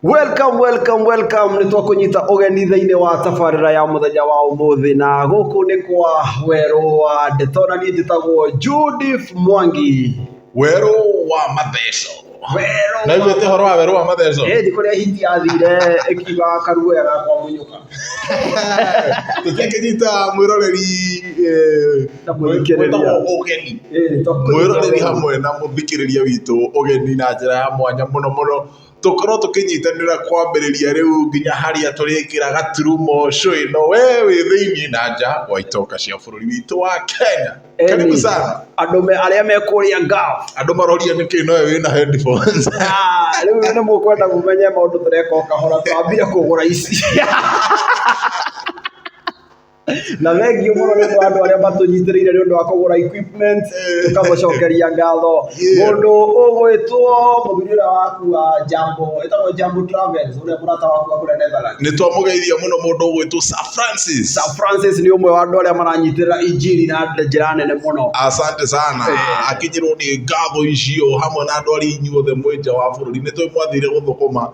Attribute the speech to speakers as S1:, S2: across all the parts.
S1: Welcome, welcome, welcome. Nĩ twakũnyita ũgeni thĩinĩ wa tabarĩra ya mũthenya wa ũmũthĩ na gũkũ nĩ kwa werũ wa ndeto na niĩ njĩtagwo Judith Mwangi. werũ wa matheco Werũ na inyuĩ ũhoro wa werũ wa matheco Ĩndĩ kũrĩa hiti yathire ĩkiuga karuoya gakwa mũnyũka. tũtingĩnyita mwĩroreri eh, Na mũthikĩrĩria. wĩtagwo ũgeni Ĩĩ, tondũ- mwĩroreri hamwe na mũthikĩrĩria witũ ũgeni na njĩra ya mwanya mũno mũno tũkorwo tũkĩnyitanĩra kwambĩrĩria rĩu nginya harĩa tũrĩkĩra gaturumo cũ ĩno we wĩ thĩinĩ na nja wa itoka cia bũrũri witũ wa Kenya. Karibu sana. Andũ me arĩa me kũrĩa ngao. Andũ maroria nĩkĩ nowe wĩna headphones. Ah, rĩu nĩ mũkwenda mũmenye maũndũ tũreka o kahora twambire kũgũra ici. na thengio muno ni ndu andu aria matunyitiriire ni undu wa kugura equipment tukamucokeria ngatho mundu ugwitwo muthuri uria wakua jambo etagwo jambo travels uria murata waku wa kuria netherlands nä twamå geithia må no må ndå å gwä two Sir Francis. Sir Francis nĩ ũmwe wa andũ arĩa maranyitirĩra injiri na njĩra nene mũno asante sana Eh. akinyirwo nä ngatho icio hamwe na andå arä inyuothe mwä nja wa bå rå ri nä twä mwathire gå thå kå ma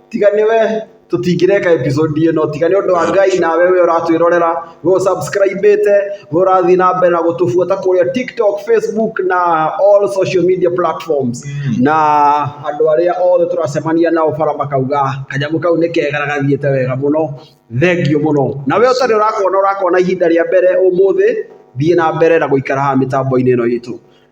S1: tiga nĩ we tũtingĩreka episode ĩno tiga nĩ ũndũ wa Ngai nawe we ũratwĩrorera we ũsubscribĩte we ũrathiĩ na mbere na gũtũbuata kũrĩa TikTok, Facebook na all social media platforms na andũ arĩa othe tũracemania nao bara makauga kanyamũ kau nĩ kega na gathiĩte wega mũno thengio mũno na we ũtarĩ ũrakona ũrakona ihinda rĩa mbere ũmũthĩ thiĩ na mbere na gũikara haha mĩtambo-inĩ ĩno itũ.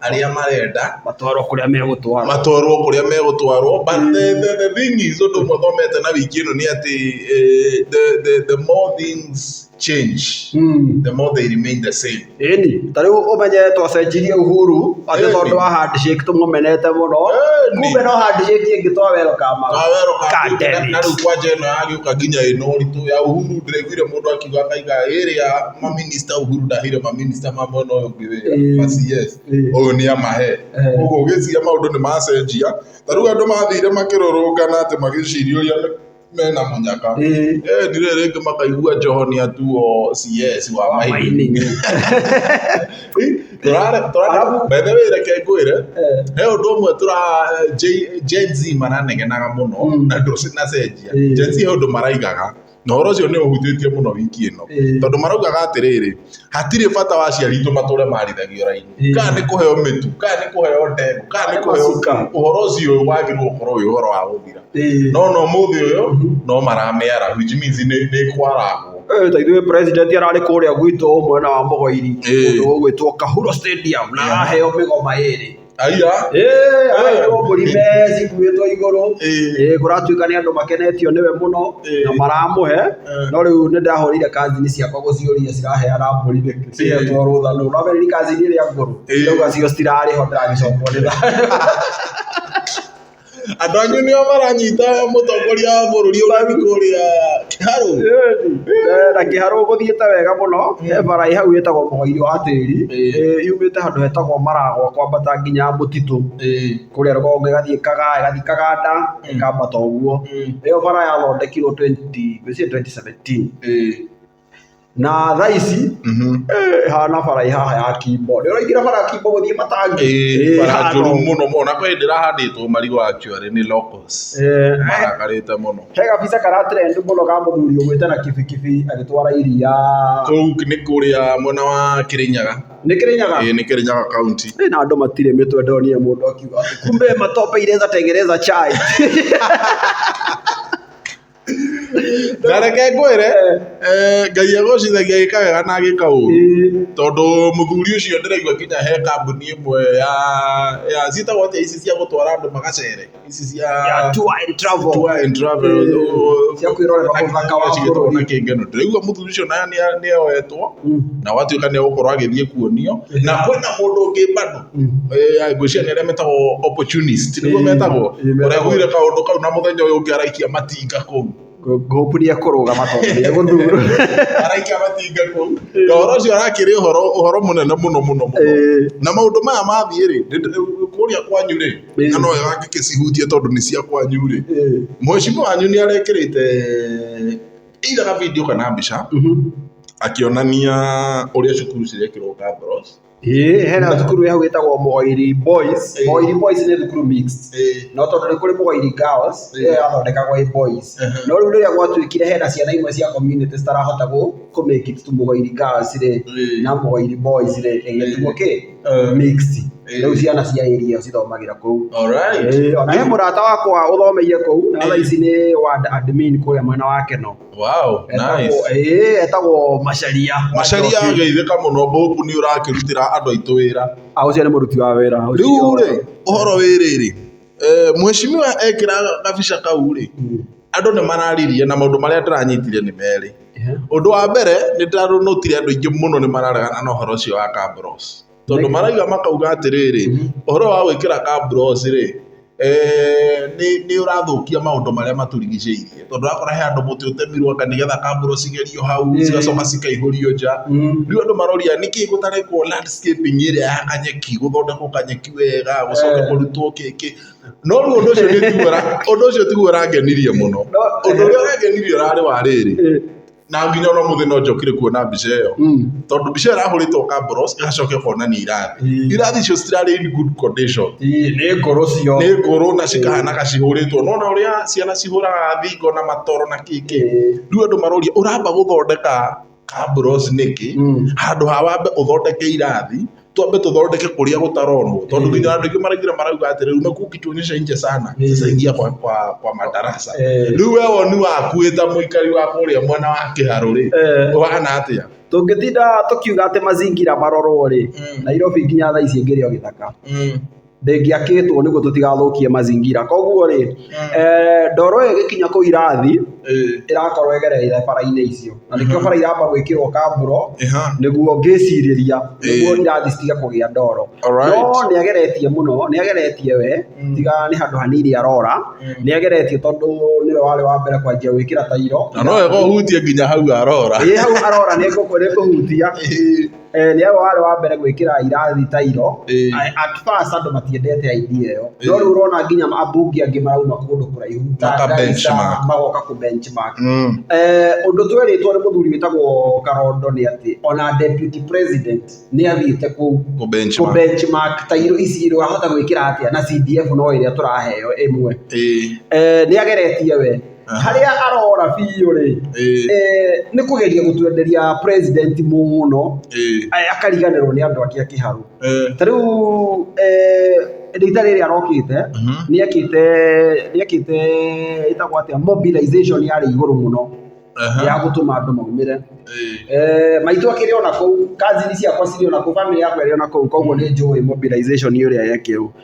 S1: arĩa marenda matwarwo kũrĩa megũtwarwo matwarwo kũrĩa megũtwarwo but the, the, the thing is ũndũ ũmwe thomete na wiki ĩno nĩ atĩ eh, the, the, the more things change the more they remain the same ĩni ta rĩu ũmenye twacenjirie uhuru atĩ Ĩni. tondũ wa handshake tũmũmenete mũno Ĩni. kumbe no handshake ĩngĩ twa welcome Awero ka- God damn na- it. na rĩu kwanja ĩno yagĩũka nginya ĩno ũritũ ya uhuru ndĩraiguire mũndũ akiuga akaiga ĩrĩa maminista uhuru ndahire maminista ma mwena ũyũ wĩra ma CS ũyũ nĩ amahe. Ũguo ũgĩciria maũndũ nĩ macenjia, ta rĩu andũ mathire makĩrũrũngana atĩ magĩciria ũrĩa mena mũnyaka, ĩni rĩrĩ rĩngĩ makaigua Joho nĩ atuo CS wa mining. By the way reke ngwĩre, he ũndũ ũmwe Gen-Z maranegenaga mũno na ndũnacenjia. Gen-Z he ũndũ maraigaga. na ũhoro ũcio nĩ ũhutĩtie mũno wiki ĩno tondũ maraugaga atĩrĩrĩ hatirĩ bata wa aciari aitũ matũre marithagio raini Ĩĩ. kana nĩ kũheo mĩtu kana nĩ kũheo ndegwa kana nĩ kũheo Macuka. ũhoro ũcio wagĩrĩirwo gũkorwo wĩ ũhoro wa gũthira Ĩĩ. no no mũthĩ ũyũ no maramĩara which means nĩ nĩ kwaragwo Eh, ta ithuĩ president ararĩ kũrĩa gwitũ mwena wa mũgoiri Ĩĩ. kũndũ gũgwĩtwo kahuro stadium na Ĩĩ. araheo mĩgoma ĩrĩ Aya. Eh, aya nĩ mbũri mecikuĩtwo igũrũ Ĩĩ. Eh, kũratuĩka nĩ andũ makenetio nĩwe mũno Ĩĩ. na maramũhe Eh. no rĩu nĩ ndahũrĩire kazini ciakwa gũciũria ciraheana mbũri nĩ cihetwo rũtha nũ no merĩ kazini ĩrĩa ngũrũ Ĩĩ. ndauga cio citirarĩho ndĩragĩcokwo nĩ tha Andũ anyu nĩo maranyita mũtongoria wa bũrũri ũgeni kũrĩa Kiharũ. Eh, na kĩharũ gũthiĩte wega mũno he bara ĩ hau ĩtagwo mũgoiri wa tĩri Ĩĩ. Eh, yumĩte handũ hetagwo maragwa kwambata nginya mũtitũ Ĩĩ. kũrĩa rũgongo ĩgathiĩ ĩkaga ĩgathiĩ ĩkaganda ĩkambata ũguo Mm. ĩyo bara yathondekirwo 20 ngwĩciria 2017 Ĩĩ. Na thaa ici ĩhana bara ĩ haha ya kimbo. Nĩ ũraingĩra bara ya kimbo gũthiĩ matangi? Ĩĩ bara njũru mũno mũno na kwĩhĩndĩ ĩrahandĩtwo marigũ actually nĩ locals. Marakarĩte mũno. He gabica kara trend mũno ka mũthuri ũgũĩte na kibikibi agĩtwara iria. Kũu nĩ kũrĩa mwena wa Kĩrĩnyaga. Nĩ Kĩrĩnyaga? Ĩĩ nĩ Kĩrĩnyaga county. Na andũ matirĩ mĩtwe ndonire mũndũ akiuga atĩ kumbe matope ireza tengeneza chai. na reke ngwĩre eh, ngai agocithagia agĩka wega na agĩka ũru tondũ mũthuri ũcio ndĩraigua nginya he kambuni ĩmwe ya ya ciĩtagwo atĩa ici cia gũtwara andũ magacere ici cia Ya tour and travel. tour and travel Eh, cia kwĩrorera ũthaka wa cigĩtagwo bũrũri. na kĩngeno ndĩraigua mũthuri ũcio nayo nĩ- nĩoetwo na watuĩka nĩ egũkorwo agĩthiĩ kuonio na kwĩna mũndũ ũngĩ bado Eh, ya, ngwĩciria nĩ arĩa metagwo opportunist nĩguo Ĩĩ, metagwo ĩĩ, metagwo. ũregwire kaũndũ kau na mũthenya ũyũ ũngĩ araikia matinga kũu Hope nĩ ekũrũgama tondũ nĩ egũthurwo. araikia matinga kũu na ũhoro ũcio arakĩrĩ ũhoro ũhoro mũnene mũno mũno mũno Ĩĩ. na maũndũ maya mathiĩ rĩ nĩ- kũrĩa kwanyu rĩ Ĩĩ. na no wega ngĩkĩcihutie tondũ nĩ cia kwanyu rĩ Ĩĩ. mwecimu wanyu nĩ arekĩrĩte either ga video kana mbica Mhm. akĩonania ũrĩa cukuru cirekĩrwo cameras Ĩĩ hena thukuru hau ĩtagwo Mũgoiri Boys, Mũgoiri Boys nĩ thukuru mixed. No tondũ nĩ kũrĩ Mũgoiri Girls, ĩyo yathondekagwo ĩ Boys. No rĩu rĩrĩa gwatuĩkire hena ciana imwe cia community citarahota kũ make it to Mũgoiri Girls rĩ, na Mũgoiri Boys rĩ, ĩgĩtuo kĩ? Mixed. Rĩu ciana cia area ĩyo cithomagĩra kũu. Ĩĩ, o na he mũrata wakwa ũthomeire kũu, na thaa ici nĩ ward admin kũrĩa mwena wa Kenol. Wow, nice. ĩĩ etagwo macaria Macharia geithĩka mũno Hope nĩ ũrakĩrutĩra andũ aitũ wĩra. a ũcio nĩ mũruti wa wĩra Rĩu rĩ, ũhoro wĩ rĩrĩ, eh, mheshimiwa ekĩra gabica kau rĩ, andũ nĩ mararirie na maũndũ marĩa ndĩranyitire nĩ merĩ. Ũndũ wa mbere nĩ ndĩranotire andũ aingĩ mũno nĩ mararegana na ũhoro ũcio wa Kabros. Tondũ maraiga makauga atĩrĩrĩ, ũhoro wa gwĩkĩra kabrosi rĩ, nĩ ũrathũkia maũndũ marĩa matũrigicĩirie. Tondũ ũrakora he handũ mũtĩ ũtemirwo anga nĩ getha kabrosi igerio hau, cigacoka cikaihũrio nja. Rĩu andũ maroria nĩkĩ gũtarekwo landscaping ĩrĩa ya kanyeki, gũthondekwo kanyeki wega, gũcoke kũrutwo kĩkĩ. No rĩu ũndũ ũcio nĩ tiguo ũrangenirie mũno. Ũndũ ũrĩa ũrangenirie ũrarĩ wa rĩrĩ. na nginya ona muthi no njokire kuona mbica iyo tondu mbica irahuritwo Kabros igacoka ikonania irathi Mm. irathi icio citirarĩ in good condition Ii, nĩ ngoro cio nĩ ngũrũ na cikahanaga cihũrĩtwo nona ũrĩa ciana cihũraga thingo na matoro na kĩkĩ Mm. rĩu andũ maroria ũramba gũthondeka Kabros nĩkĩ Mm. handũ ha wambe ũthondeke irathi twambe tũthondeke kũrĩa gũtaronwo tondũ nginya andũ aingĩ maraingĩra marauga atĩrĩ ume kukituonyesha nje sana sasa ingia kwa, kwa, kwa madarasa Eh. rĩu we woni waku wĩ ta mũikari wa kũrĩa mwena wa kĩharũ rĩ Eh. ũhana atĩa tũngĩtinda tũkiuga atĩ mazingira marorwo rĩ Mm. nairobi nginya thaa ici ĩngĩrĩ o gĩthaka Mm. ndĩngĩakĩtwo nĩguo tũtigathũkie mazingira koguo rĩ eh, ndoro ĩyo ĩgĩkinya kũu irathi ĩrakorwo ĩgereire bara-inĩ icio na nĩkĩo bara iramba gwĩkĩrwo kamburo Ĩha. nĩguo ngĩcirĩria nĩguo Ĩĩ. irathi citige kũgĩa ndoro Alright. no nĩ ageretie mũno nĩ ageretie we tiga nĩ handũ hanini arora nĩ ageretie tondũ nĩwe warĩ wa mbere kwanjia gwĩkĩra tairo na no wega ũhutie nginya hau arora Ĩ, hau arora nĩ ngũkũ- nĩ ngũhutia Eh, nĩ awe warĩ wa mbere gwĩkĩra irathi tairo atfas andũ matiendete idea ĩyo no rĩu ũrona nginya abungi angĩ marauma kũndũ kũraihu ta Maka Garissa, benchmark. magoka kũ benchmark Mm. Eh, ũndũ twerĩtwo nĩ mũthuri wĩtagwo karondo nĩ atĩ ona deputy president nĩ athiĩte kũu Kũ benchmark. kũ benchmark tairo ici rĩ wahota gwĩkĩra atĩa na cdf no ĩrĩa tũraheo ĩmwe Ĩĩ. Eh, nĩ ageretie we Aha. harĩa arora biũ rĩ Ĩĩ. eh, nĩ kũgeria gũtwenderia president mũno Ĩĩ. eh, akariganĩrwo nĩ andũ ake a kĩharũ Ĩĩ. ta rĩu eh, rita rĩrĩ arokĩte Mhm. nĩekĩte nĩekĩte ĩtagwo atĩa mobilization yarĩ igũrũ mũno Aha. ya gũtũma andũ maumĩre Ĩĩ. Eh, maitũ akĩrĩ ona kũu kazini ciakwa cirĩ ona kũu bamĩrĩ yakwa ĩrĩ ona kũu koguo nĩ njũĩ mobilization ĩrĩa yekĩrwo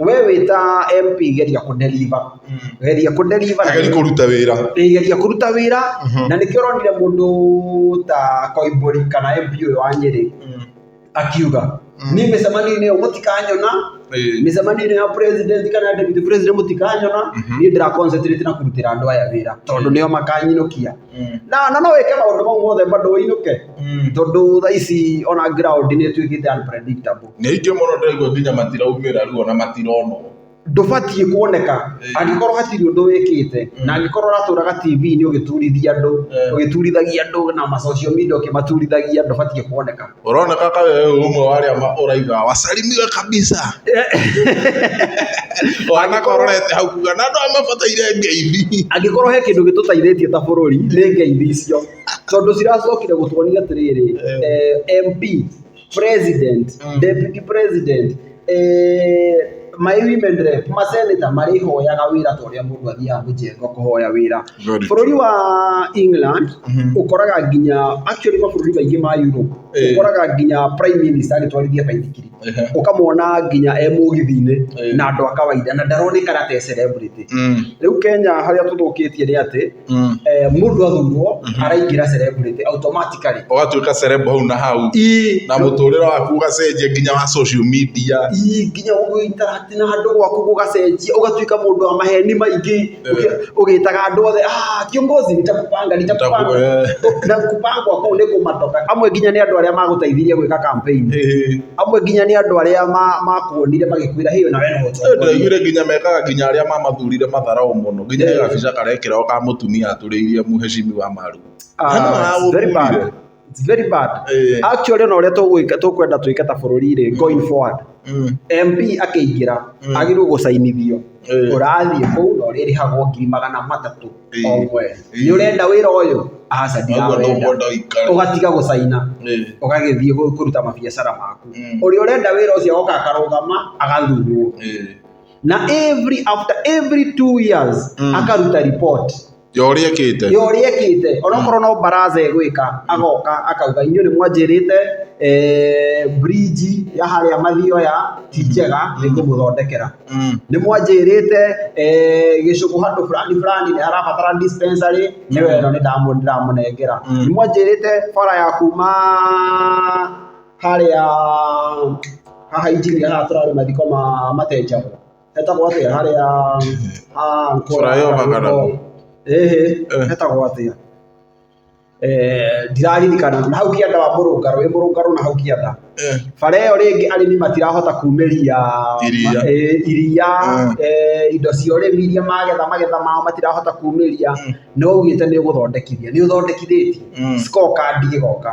S1: We wĩta MP geria kũ deliver geria kũ deliver na Geria kũruta wĩra. Ĩĩ geria kũruta wĩra na nĩkĩo ũronire mũndũ ta Koimbũri kana MP ũyũ wa Nyĩrĩ akiuga niĩ mĩcemanio-inĩ ĩyo mũtikanyona, Ĩĩ. mĩcemanio-inĩ ya president kana ya deputy president mũtikanyona, niĩ ndĩra concentrate na kũrutĩra andũ aya wĩra tondũ nĩo makanyinũkia. mm. na na no wĩke maũndũ mau mothe bado ũinũke mm. tondũ tha ici ona ground nĩ ĩtuĩkĩte unpredictable nĩ ingĩ mũno ndĩraigua nginya matiraumĩra rĩu ona matironwo ndũbatiĩ kuoneka angĩkorwo hatirĩ ũndũ wĩkĩte na angĩkorwo ũratũraga TV-inĩ ũgĩturithia andũ ũgĩturithagia andũ na ma social media ũkĩmaturithagia ndũbatiĩ kuoneka Ũroneka ka wewe wĩ ũmwe wa arĩa ma- ũraiga wasalimiwe kabisa. Wanaka ũrorete hau kuga na andũ aya mabataire ngeithi. angĩkorwo he kĩndũ gĩtũteithĩtie ta bũrũri nĩ ngeithi icio tondũ ciracokire gũtuonia atĩrĩrĩ eh, MP president Mm. deputy president eeh my women rep ma senator marĩhoyaga wĩra ta ũrĩa mũndũ athiaga mũjengo kũhoya wĩra Very true. bũrũri wa England Mhm. ũkoraga nginya actually mabũrũri maingĩ ma Europe Eh. ũkoraga nginya prime minister agĩtwarithia baithikiri Ehe. ũkamwona nginya e mũgithi-inĩ Eh. na andũ a kawaida na ndaronekana ta e celebrity Mm. rĩu Kenya harĩa tũthũkĩtie nĩ atĩ mm. eh, mundu athurwo mm-hmm. araingira celebrity automatically ugatuika celeb hau na hau na muturira waku ugacenjia nginya wa social media nginya ugaitara na andu gwaku gugacenjia ugatuika mundu wa maheni maingi eh. ugitaga andu othe ah kiongozi nitakupanga nitakupanga eh. na kupanga kwa ni kumatoka amwe nginya ni andu aria maguteithirie gwika campaign amwe nginya ni andu aria makuonire magikwira hiyo na wewe no ndaiguire nginya mekaga nginya aria mamathurire matharau muno Nginya ĩyo gabica karekĩra o ka mũtumia atũrĩirie mũheshimiwa maru. Ah, it's very bad. It's very bad. Eh. Actually ona ũrĩa tũgwĩka tũkwenda twĩke ta bũrũri rĩ going forward. MP akĩingĩra agĩrĩirwo gũcainithio Eh. ũrathiĩ kũu na ũrĩrĩhagwo ngiri magana matatũ Eh. o mweri. Eh. Nĩ ũrenda wĩra ũyũ? Aca Ũguo nĩguo ndirawenda. ũikare. Ũgatiga gũcaina Eh. ũgagĩthiĩ gũ- kũruta mabiacara maku. Mm. Ũrĩa ũrenda wĩra ũcio oka akarũgama agathurwo. Eh. na every after every two years Mm. akaruta report ya å rä ekä te yo riekite onokorwo no baraza egwika agoka akauga inyuĩ nĩ mwanjĩrĩte eh, bridge ya harĩa mathioya ti njega nĩ ngũmũthondekera nĩ mwanjĩrĩte eh, gĩcũkũ handũ fulani fulani nĩ harabatara dispensary nĩ weno nĩ ndamũ- ndĩramũnengera Mm. nĩ mwanjĩrĩte bara ya kuma harĩa haha injinia haha tũrarĩ mathiko ma matenjagwo hetagwo atĩa harĩa ha Flyover kana kũ? ĩhĩ Eh. hetagwo atĩa Eh, ndiraririkana na hau kĩanda wa mũrũngarũ wĩ mũrũngarũ na hau kĩanda Eh, bara ĩyo rĩngĩ arĩmi matirahota kumĩria Iria. ma- eh, iria Mm. eh, indo cia ũrĩmi iria magetha magetha mao matirahota kumĩria nĩ waugĩte nĩ ũgũthondekithia nĩ ũthondekithĩtie Mm. scorecard ĩgoka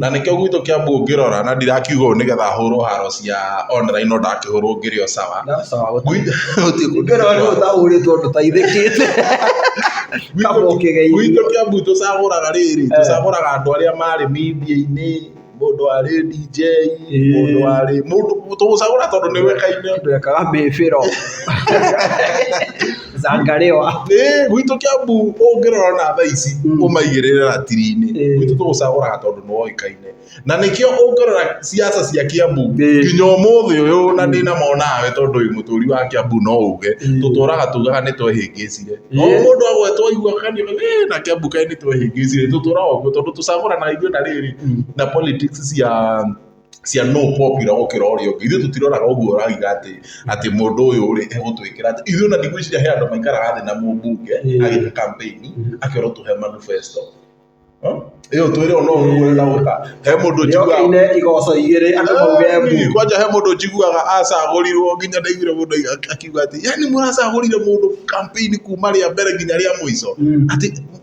S1: Na nĩkĩo gwitũ Kiambu ũngĩrora na ndirakiuga ũũ nĩgetha hũrwo haro cia online no ndakĩhũrwo ngĩrĩ o sawa. Ngĩrora nĩ ũtahũrĩtwo ndũteithĩkĩte kaba ũkĩgeithio. Gwitũ Kiambu tũcagũraga rĩrĩ, tũcagũraga andũ arĩa marĩ media-inĩ, mũndũ warĩ DJ, mũndũ warĩ, tũgũcagũra tondũ nĩ ũĩkaine. Twekaga mĩbĩro. Zangalewa. Ĩĩ, gwitũ Kĩambu ũngĩrora ona thaa ici Mm. ũmaigĩrĩre ratiri-inĩ Ĩĩ. gwitũ tũgũcagũraga tondũ nĩ woĩkaine na nĩkĩo ũngĩrora ciaca cia Kĩambu Ĩĩ. nginya ũmũthĩ ũyũ na ndĩna mo nawe tondũ wĩ mũtũri wa Kĩambu no uge Ĩĩ. tũtũraga tugaga nĩ twehĩngĩcire Ĩĩ. o mũndũ agwetwo aigua kanio "Ĩĩ, na Kĩambu kaĩ nĩ twehĩngĩcire tũtũraga ũguo tondũ tũcagũranaga ithuĩ na rĩrĩ Mm. na politics cia cia no popular gũkĩra ũrĩa ũngĩ ithuĩ tũtiroraga ũguo ũrauga atĩ atĩ mũndũ ũyũ rĩ egũtwĩkĩra atĩ ithuĩ ona ndigwĩciria he andũ maikaraga thĩ na mũmbunge agĩka campaign akerwo tũhe manifesto Huh? ĩyo twĩrĩ ona ũguo na ũka he mũndũ njiguaga Yokaine igoco igĩrĩ andũ mauge mbu. Ĩĩ, kwanja he mũndũ njiguaga acagũrirwo nginya ndaiguire mũndũ akiuga atĩ yani mũracagũrire mũndũ campaign kuma rĩa mbere nginya rĩa mũico Mm. atĩ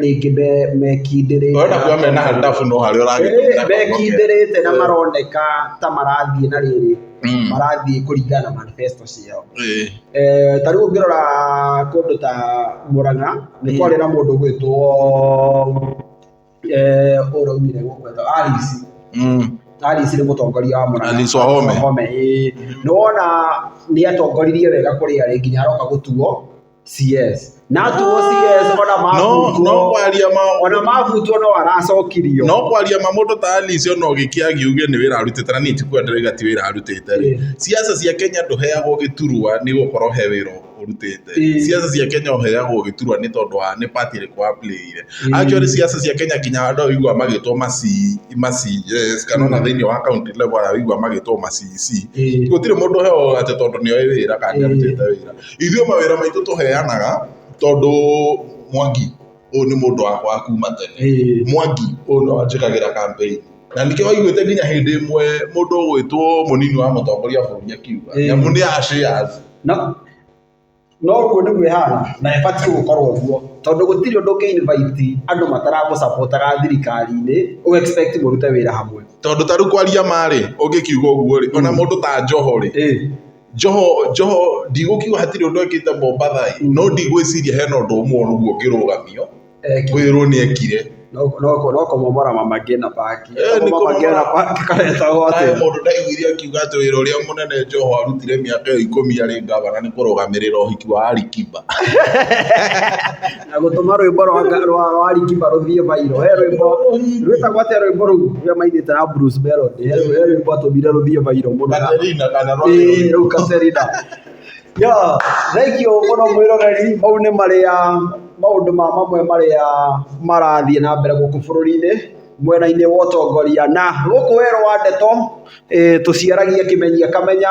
S1: rĩngĩ me- mekindĩrĩte Ona kuga mena handabu no harĩa ũragĩtũmĩra Eh, mekindĩrĩte na maroneka ta marathiĩ na rĩrĩ Mm. marathiĩ kũringana na manifesto ciao Eh, Eh, ta rĩu ũngĩrora kũndũ ta mũrang'a nĩ Mm. kwarĩ na mũndũ gwĩtwo ũraumire gũkwetwo alice mm. alice nĩ mũtongoria wa mũrang'a Alice Wahome. Wahome, ĩĩ. nĩ wona nĩ atongoririe wega kũrĩ arĩ nginya aroka gũtuo CS na tuo CS ona no no mabutwo kwaria ma ona mabutwo no aracokirio no kwaria ma mũndũ ta Alice ona ũgĩkia agiuge nĩ wĩra arutĩte na nĩti kuga ndĩrauga ti wĩra arutĩte rĩ Ĩĩ. siasa cia Kenya ndũheagwo gĩturwa nĩ gũkorwo he wĩra ũrutĩte Ĩĩ. siasa cia Kenya ũheagwo gĩturwa nĩ tondũ wa nĩ party ĩrĩkũ wa playire Ĩĩ. actually siasa cia Kenya kinya andũ a wĩigua magĩtwo maci maci yes kana ona thĩinĩ wa county level a wĩigua magĩtwo macici Ĩĩ. gũtirĩ mũndũ ũheagwo atĩ tondũ nĩ oĩ wĩra kana nĩ Ĩĩ. arutĩte wĩra Ithuĩ mawĩra maitũ tũheanaga tondũ Mwangi ũyũ nĩ mũndũ wakwa wa kuma tene. Mwangi ũyũ nĩwe wanjĩkagĩra campaign. Na nĩkĩo waiguĩte nginya hĩndĩ ĩmwe mũndũ ũgwĩtwo mũnini wa mũtongoria wa bũrũri akiuga. Nĩamu nĩ a shares. Na na ũguo nĩguo ĩhana na ĩbatiĩ gũkorwo ũguo. Tondũ gũtirĩ ũndũ ũngĩ invite andũ mataramũ support aga thirikari-inĩ ũ expect mũrute wĩra hamwe. Tondũ ta rĩu kwaria ma rĩ, ũngĩkiuga ũguo rĩ, ona mũndũ ta Joho rĩ. Njoho, Njoho, ndigũkiuga hatirĩ ũndũ ekĩte Mombatha ĩ, no ndigwĩciria hena ũndũ ũmwe ũguo ũngĩrũgamio, Eki- kwĩrwo nĩ ekire. no no- no kũmomora mama ngĩna paki Eh, nĩ mama ngĩna kũmomora. paki karetagwo Kaĩ atĩ mũndũ ndaiguire akiuga atĩ wĩra ũrĩa mũnene Njoho arutire mĩaka ĩyo ikũmi arĩ ngavana nĩ kũrũgamĩrĩra ũhiki wa Alikiba. na gũtũma rwĩmbo rwa nga- rwa rwa Alikiba rũthiĩ viral. He rwĩmbo rwĩtagwo atĩa rwĩmbo rũu rũrĩa maigĩte na Bruce Melody? He rwĩ- he rwĩmbo atũmire rũthiĩ viral mũno na- Katerina kana Ĩĩ, Roy. rĩu Katerina. Yo, thengiũ mũno mwĩroreri, mau nĩ marĩa maũndũ ma mamwe marĩa marathiĩ na mbere gũkũ bũrũri-inĩ mwena-inĩ wa ũtongoria na gũkũ werũ wa ndeto eh, tũciaragia kĩmenyia kamenya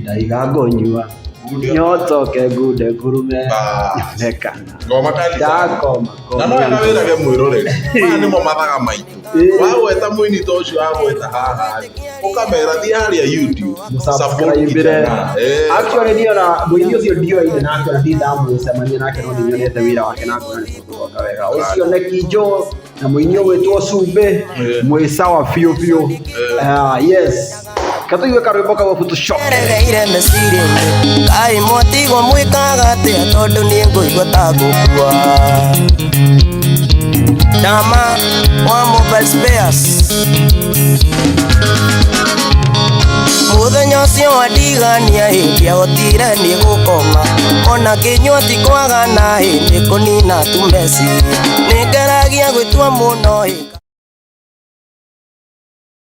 S1: ndaiga ngũnyua nyotoke ngunde ngurume yonekana ngoma kali ndakoma na no ena wä rage mwä roreri maya nä mo mathaga maitå Ĩĩ. wagweta må ini ta å cio wagweta haha å kamera thiä harä a mũsubscribĩre actually niĩ ona mũini ũcio ndioaine nake ona ndindamucemania nake no nĩnyonete wĩra wake na ngona nĩ mũndũ wega ũcio nĩ kinjũ na mũini ũgwĩtwo cumbĩ mwĩ sawa biũ biũ Ah, yes katũigue karwĩmbo kau abu tũcoke eregeire mecirinĩ kai mwatigwo mwĩkaga atĩa tondũ niĩ ngũigua ta ngũkua ndama wa mobile spares mũthenya ũcio wandigania ĩ ndiahotire niĩ gũkoma ona kĩnyua ti kwaga na ĩ nĩ kũnina tume nĩ ngaragia gwĩtua mũno